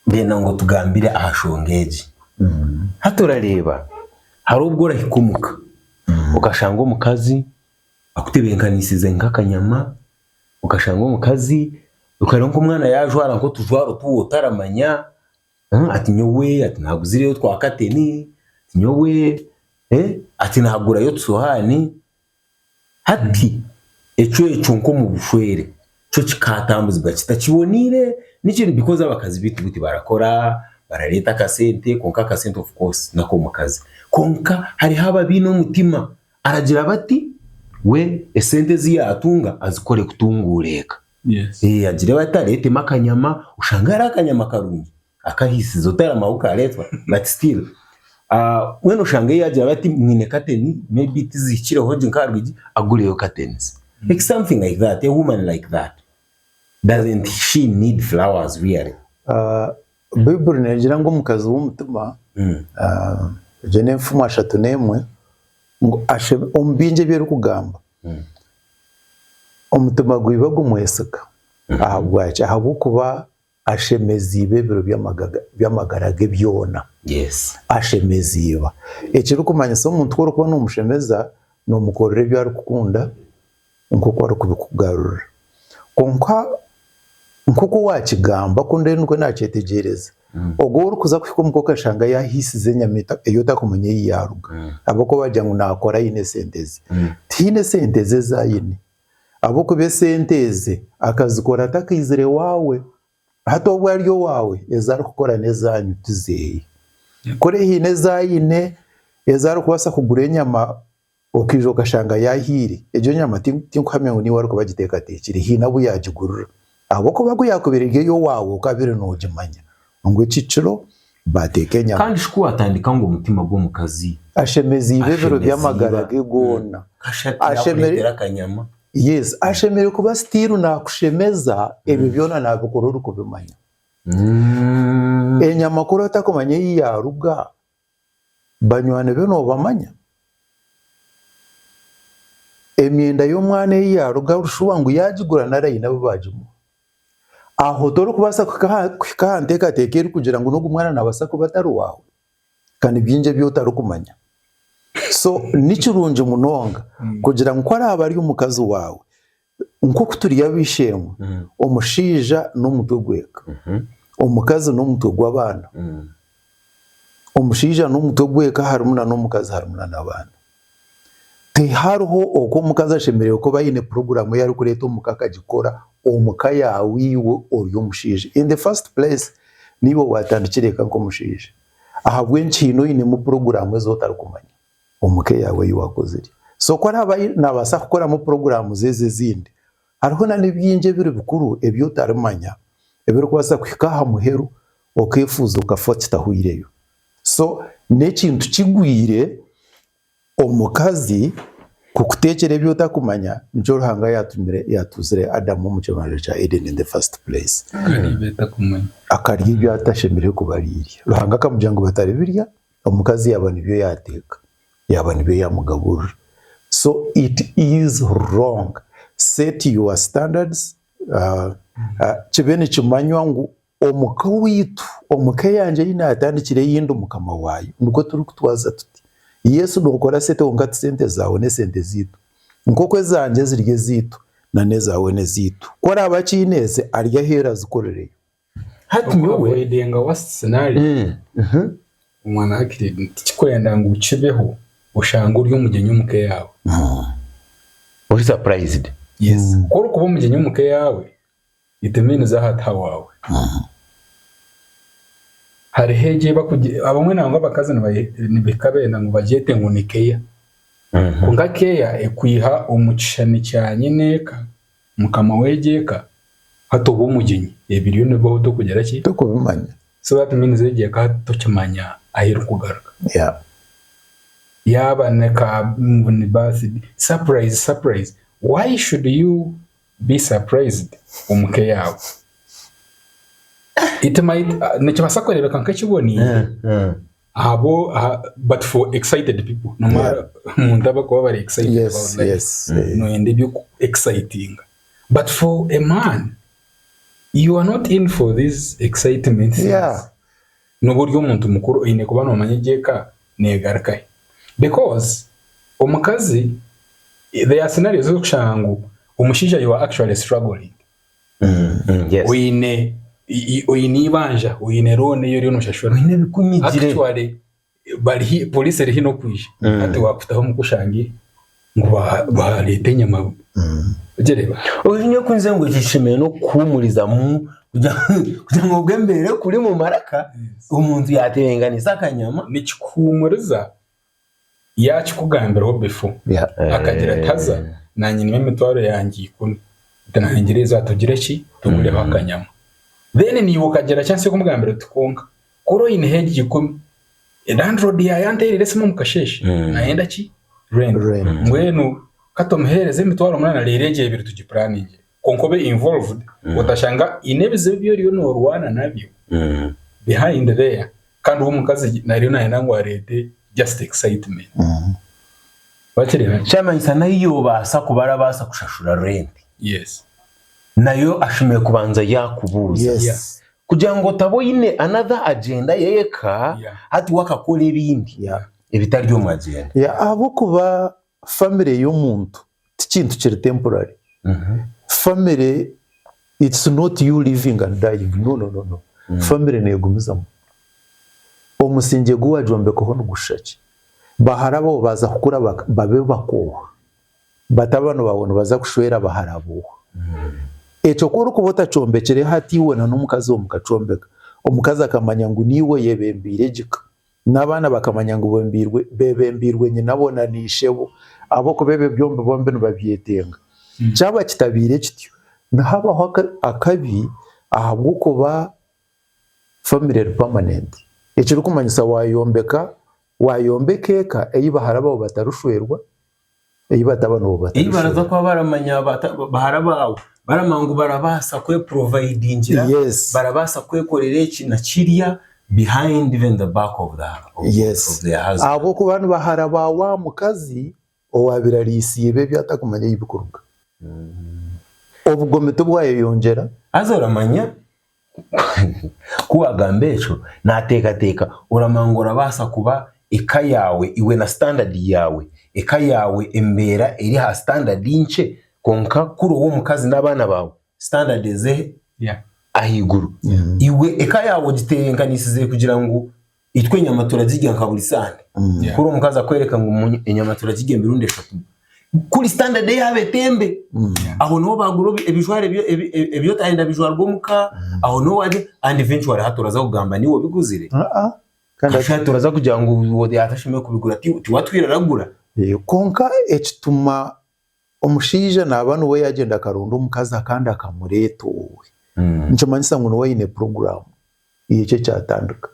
ndenda ngu otugambire aha nshonga egi. Hati orareeba, hariho obu orahika omu ka, okashanga omukazi akutebenkanisize nk'akanyama, okashanga omukazi, okareeba nk'omwana yaajwara nk'otujwaro otu we otaramanya, ati nyowe ati naaguzireyo twa kateni, ati nyowe ati naagurayo otusohaani, Hati, ecweco nk'omu bushwere kyo kikatambuzibwa kita? Kiboniire nikyo because abakazi baitu bu tibarakora, barareeta akasente kwonka akasente of course n'akomukazi kwonka hariho ababiine omutima aragira bati we esente ezi yatunga azikore kutunguura eka agire bati areetemu akanyama oshange ari akanyama karungi akahisiza otaramaho karetwa but still ah, mbwenu oshange yagira bati mwine kateni maybe tizihikireho gye nkaha rwigi agureyo katenzi like something like that a woman like that doesn't she need flowers really Ah, baiburi negira ngu omukazi w'omutima Mm. ah, egyo n'enfumu ashatu n'emwe ngu ashebe omu bingi ebi erikugamba Mm. omutima gwiba gumweseka ahabwaki ahabw'okuba Ashemeziibwe ebiro by'amagara ge byona. Ashemeziibwa. Ekirikumanyisa omuntu ku orikuba nomushemeza, nomukorera ebi arikukunda nkoku arikubikugarurira. Kwonka nkoku owakigamba ku ndi nikwo nakyetegyereza, ogwo orikuza kuhika omuka okashanga yahiisize enyama ei otarikumanya ei yaaruga ahabw'okuba waagira ngu naakora aine esente ze. Tihaine sente ze ezi aine. ahabw'okuba esente ezi akazikora atakaizire ewaawe. Hati obu ari owaawe, ezi arikukora n'ezaanyu ti zeeye. Kuri haine ezi aine ezi arikubaasa kugura enyama okaija okashanga yaahiire, egyo nyama tinkuhamya ngu niiwe arikuba agiteekateekire, haine abu yaagigurira. Ahabw'okuba ku yaakubaire eri ey'owaawe okabaire noogimanya ngu eki kiro baateeka enyama. Kandi shi ku waatandika ngu omutima gw'omukazi. Ashemeziibwe ebiro by'amagara ge goona. Kashi hati yaakureetera akanyama. Yes. Ashemereire kuba still naakushemeza ebyo byona naabikora orikubimanya. Enyama kuri otakumanya ei yaaruga, Banywani be noobamanya? Emyenda y'omwana ei yaaruga aha rushuba ngu yaagigura nari aine abu baagimuha? Aho torikubaasa kuhika aha nteekateeka erikugira ngu n'ogu mwana naabaasa kuba atari waawe? Ka ni bingi ebi otarikumanya. So ni kirungi munonga kugira ngu ku araabe ari omukazi waawe, nk'oku turi ab'eishe-emwe, omushaija n'omutwe gw'eka, omukazi n'omutwe gw'abaana, omushaija n'omutwe gw'eka harimu n'omukazi harimu n'abaana. Tihariho oku omukazi ashemereire kuba aine puroguramu ei arikureeta omu ka akagikora omu ka yaawe iwe ori omushaija. In the first place, niiwe waatandikire eka nk'omushaija ahabw'enki haine oinemu puroguramu ezi otarikumanya. omu ka eyaawe ei waakozire. So ku araabe naabaasa kukoramu puroguraamu ze ezi ezindi, hariho na n'ebingi ebiri bikuru ebi otarimanya ebirikubaasa kuhika aha muheru okeefuuza okafa kitahweireyo. So n'ekintu kigwire omukazi kukuteekyera ebi otakumanya, nikyo Ruhanga yaatumire yaatuuzire Adamu omu kibanja kya Edeni in the first place akarya ebi atashemereire kuba arairya. Ruhanga akamugira ngu bataribirya Omukazi yaaba nibyo yaateeka, yaaba nibyo yaamugaburira. So it is wrong. Set your standards, kibe nikimanywa ngu omuka owaitu, omuka eyangye ei naatandikire ei ndi mukama waayo, nikwo turikutwaza tuti. Yes nookora sente kwonka ti sente zaawe n'esente zaitu. Nk'oku ezangye ziri ezaitu, nan'ezaawe n'ezaitu. Ku oraabe akyineeze ari ahu eri azikorireyo. hati nyowe Avoidinga worst scenario. Eh, aha. Omwana wa kire tikikwenda ngu kibeho oshange ori omugyenyi omu ka eyaawe. Oh. Ori surprised. Yes. Ku orikuba omugyenyi omu ka eyaawe, it means aha ti hawaawe. Aha. Hariho egi ei bakugye, abamwe nangwa abakazi nibaye nibahika beenda ngu bagyete ngu ni keya. Aha. Kwonka keya ekwiha omu kishushani kya nyine eka. Mukama w'egi eka hati oba omugyenyi ebiriyo nibibaho tokugira ki? Tokubimanya. So that means egi eka hati tokimanya ahu erikugaruka. Yeah. Yaaba ni ka ngu ni birthday. Surprise surprise why should you be surprised omu ka eyaawe? It might nikibaasa kureebeka nk'ekiboniire. Ahabwo aha but for excited people no Yeah. matter omuntu aba kuba bari excited Yes, about life yes, eh. noyenda ebyoku excitinga but for a man you are not in for these excitement things. Yeah. noba ori omuntu mukuru oyine kuba nomanya egi eka negarukahi because omukazi there are scenarios ozokushanga ngu omushaija you are actually struggling Yes. oine i- i- oine eibanja oine loan eyi oriyo noshashura oine ebikunyigire actually bari hi- police eri hino kwija Mm. hati wakutaho omu kushangire ngu ba- bareeta enyama Mm. ogyereba ozi nyowe kunze ngu eki kishemereire n'okukuhumurizamu kugira kugira ngu obwe mbeire kuri mu maraka omuntu yatebenganisa akanyama nikikuhuumuriza Yaakikugambiraho befo? Akagira ati, Haza, na nyinemu emitwaro yangye ikumi. Nti nahingire eizi aha tugire ki? Tugureho akanyama. Then naiwe okagira chance y'okumugambira oti, Kwonka, kuri oineho egi ikumi, landlord yaaba yanteereire esimu omu kasheeshe, naayenda ki? Rent. Mbwenu ka tumuheereze emitwaro munaana reero egi ebiri tugipuraningire. kwonka obe involved otashanga haine ebizibu ebi oriyo norwana nabyo behind there kandi we omukazi ariyo nayenda ngu areete just excitement wakireba? Kyamanyisa nahi yobaasa kuba arabaasa kushashura rent Yes. nayo ashemeriire kubanza yakubuuza Yes. kugira ngu otaba oine another agenda yeka Yeah. hati wakakora ebindi Yeah. ebitari omu agenda. Yeah, ahabw'okuba family y'omuntu ti kintu kiri temporary. Family it's not you living and dying no no no no family negumizamu. Omusingye gu wagyombekaho nigushisha ki? Ba hara bawe baza kukura babe bakooha, batabani bawe nibaza kushwera ba hara booha. Ekyo ku orikuba otakyombekire hati iwe na n'omukazi we mukakyombeka, omukazi akamanya ngu naiwe oyebembeire egi ka. N'abaana bakamanya ngu bembiirwe, bebembiirwe nyinabo na naishebo, ahabw'okuba ebyo byombi bombi nibabyetenga. Kyaba kitabaire kityo, nihabaho akabi ahabw'okuba famire eri pamanenti. Ekirikumanyisa waayombeka, waayombeka eka ei bahara baawe batarishwerwa, ei bataba nabo Ei baraza batarashobora kuba baramanya abata- bahara baawe baramanya ngu barabaasa kweprovidingira Yes. barabaasa kwekorera eki na kirya behind even the back of the of- Yes. of their husband. ahabw'okuba ni bahara ba wa mukazi owaabaire ariisiye iba ebi atakumanya ei bikuruga obugomi tibwayeyongyera haza oramanya Ku waagamba ekyo, naateekateeka oramanya ngu orabaasa kuba eka yaawe iwe na sitandadi yaawe, eka yaawe embeera eri aha sitandadi nkye kwonka ku ori ow'omukazi n'abaana baawe sitandadi eze ahaiguru. Iwe eka yaawe ogiteebeekanisize kugira ngu itwe enyama turazirya nka buri sande Yeah. kuri omukazi akwereka ngu mu- enyama turazirya emirundi eshatu kuri standard yaaba etembe aho niho bagura ebi- ebijwaro ebyo- ebi- ebi- ebyotayenda bijwarwa omuka aho niho wagye and eventually hati oraza kugamba niwe obiguzire Ah, ah. Kandi Kasha turaza kugira ngu uwo yatashemeye kubigura ti- tiwatwire aragura Eh, konka ekituma omushaija naaba niwe yaagyenda akaronda omukazi akandi akamureeta owaawe, nikimanyisa ngu niwe aine puroguraamu y'eki ekyatandika.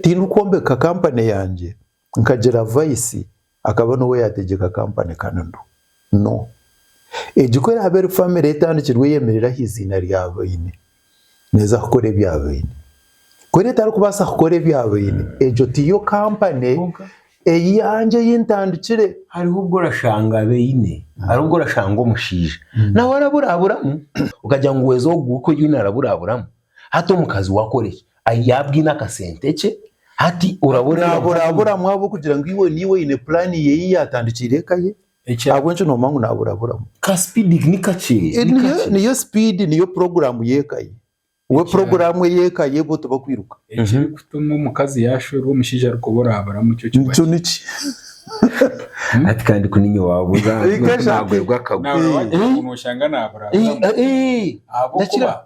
Tindikwombeka kampani yangye nkagira vaisi akaba niwe yaategyeka kampani kandi ndu, no. Egi ku eraabe eri famire etandikirwe eyemereire aha iziina rya baine, neeza kukora ebya baine. Ku eri etarikubaasa kukora ebya baine, egyo tiyo kampani eyangye ei ntandikire. Hariho obu orashanga baine, hariho obu orashanga omushaija nawe araburaburamu, okagira ngu weeza ogwo orikwenda naaraburaburamu, hati omukazi we akore ki? Yaaba aine akasente ke, hati oraba orenda. Naaburaburamu ahabw'okugira ngu iwe naiwe oine puraani ye ei yaatandikiire eka ye. Ekya- ahabw'ekyo noomanya ngu naaburaburamu ka speed ni kakye ni Eh, niyo kakye. niyo speed niyo puroguramu y'ekaye we puroguramu ey'ekaye bo tibakwiruka ekirikutuma omukazi yaashwerwa omushaija ari kuba oraabura mukyo kiba nikyo niki ati kandi kuninye waabuza Ikaja. nagwerwa akagwa nawe Eh. wagira ngu nooshanga naaburaburamu Eh, eh, ahabw'okuba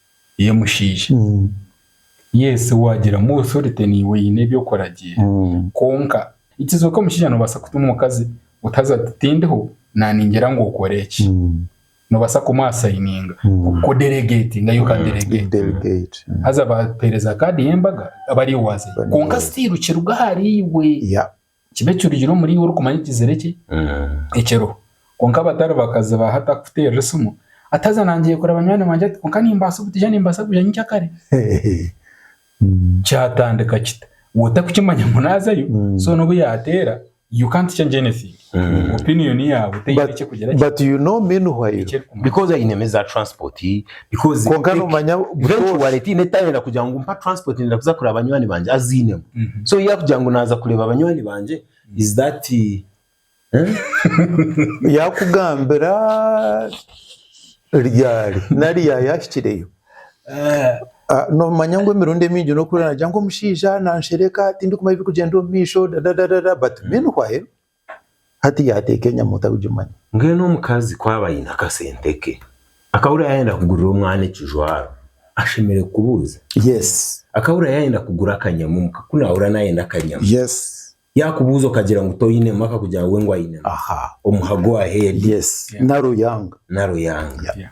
y'omushaija. Yes waagira mu authority niiwe oine ebi okuragiira kwonka nikizooka omushaija noobaasa kutuma omukazi otaza ati tindiho naaningira ngu okore eki. Noobaasa kumuha asayininga ku delegatinga you can delegate haza baakuheereza kaadi y'embaga aba ariiwe waazayo kwonka still kiruga ahariiwe. kibe ekirugire omuri iwe orikumanya ekizire kye ekiriho. Kwonka abatari bakazi ba hati akukuteerera esimu ati haza nangiire kureba nywani wangye ati kwonka nimbaasa kugija nimbaasa kugija nyinkya kare. Kyatandika kita? Iwe otarikukimanya ngu naazayo so n'obu yaateera you can't change anything. Opinion yaawe teine eki erikugira ki? But you know meanwhile. Because ainemu eza transport. Because kwonka ec- nomanya butoosha eventually tiine tayenda kugira ngu mpa transport nenda kuza kureba banywani bangye aziinemu Mhm. so yakugira ngu naaza kureba banywani bangye is that eh? yakugambira ryari nari yayahikireyo Eh, Ah, nomanya ngu emirundi emingi nokureeba nagira ngu omushaija nanshereka tindikumanya ebirikugyenda omu maisho dadadadada but meanwhile Hati yaateeka enyama otarikugimanya. Mbwenu omukazi ku aba aine akasente ke, akahurira yaayenda kugurira omwana ekijwaro, ashemereire kukubuuza? Yes. Akahurira yaayenda kugura akanyama omuka, ku naahurira naayenda akanyama. Yes. Yaakubuuza okagira ngu toinemu akakugira ngu we ngu ainemu. Aha. Omuha go ahead. Yes. Naro yanga. Naro yanga. Yeah.